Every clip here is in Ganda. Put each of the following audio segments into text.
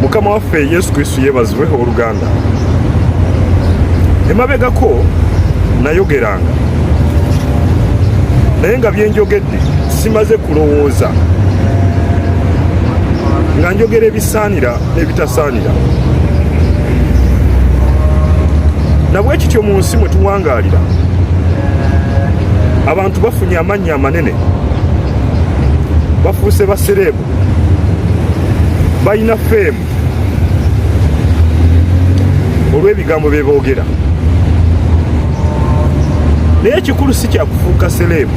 mukama waffe yesu kristu yebazibwe oluganda emabegako nayogeranga naye nga byenjogedde simaze kulowooza nga njogera ebisaanira n'ebitasaanira nabwekityo mu nsi mwe tuwangaalira abantu bafunye amannya amanene bafuuse basereebu balina feemu olw'ebigambo bye boogera naye ekikulu si kyakufuuka sereebu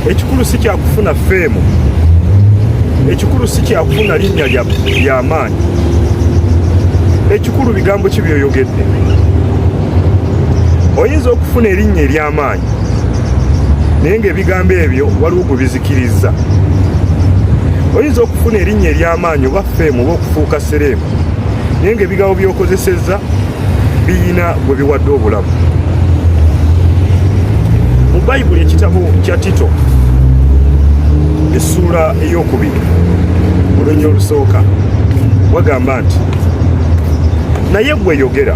ekikulu si kyakufuna feemu ekikulu si kyakufuna linnya ly'amaanyi ekikulu bigambo ki byoyogedde oyinza okufuna erinnya ery'amaanyi naye ng'ebigambo ebyo waliwo gwe bizikirizza oyinza okufuna erinnya ery'amaanyi oba feemu oba okufuuka sereemu naye ng'ebigambo by'okozesezza biyina gwe biwadde obulamu mu bayibuli ekitabo kya tito essuula ey'okubiri olunya olusooka wagamba nti naye gweyogera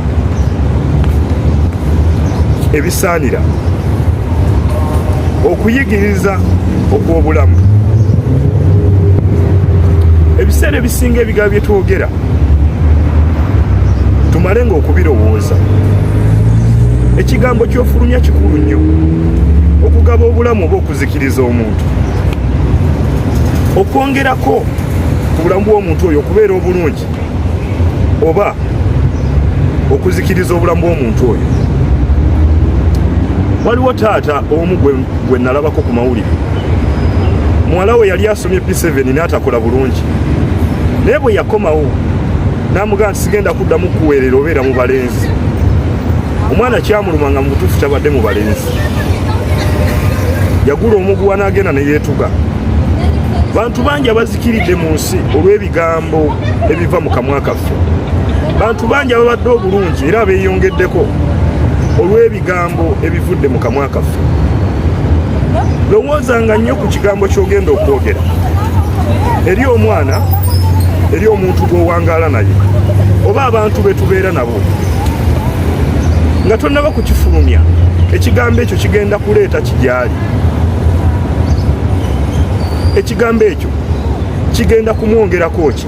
ebisaanira okuyigiriza okw'obulamu ebiseera ebisinga ebigambo bye twogera tumale nga okubirowooza ekigambo kyofulumya kikulu nnyo okugaba obulamu oba okuzikiriza omuntu okwongerako ku bulamu bw'omuntu oyo okubeera obulungi oba okuzikiriza obulamu bw'omuntu oyo waliwo taata omu gwe nalabako ku mawulire muwala we yali asomye p7 n'atakola bulungi naye bwe yakomawo namugamba nti sigenda kuddamu kuweerera obeera mu balenzi omwana kyamuluma nga mubutuufu kyabadde mu balenzi yagula omuguwa n'agenda ne yeetuga bantu bangi abazikiridde mu nsi olw'ebi ebigambo ebiva mu kamwa kaffe bantu bangi ababadde obulungi era beeyongeddeko olw'ebigambo ebivudde mu kamwa kaffe lowoozanga nnyo ku kigambo ky'ogenda okwogera eri omwana eri omuntu gw'owangaala naye oba abantu be tubeera nabo nga tonnaba kukifulumya ekigambo ekyo kigenda kuleeta kigyali ekigambo ekyo kigenda kumwongerako ki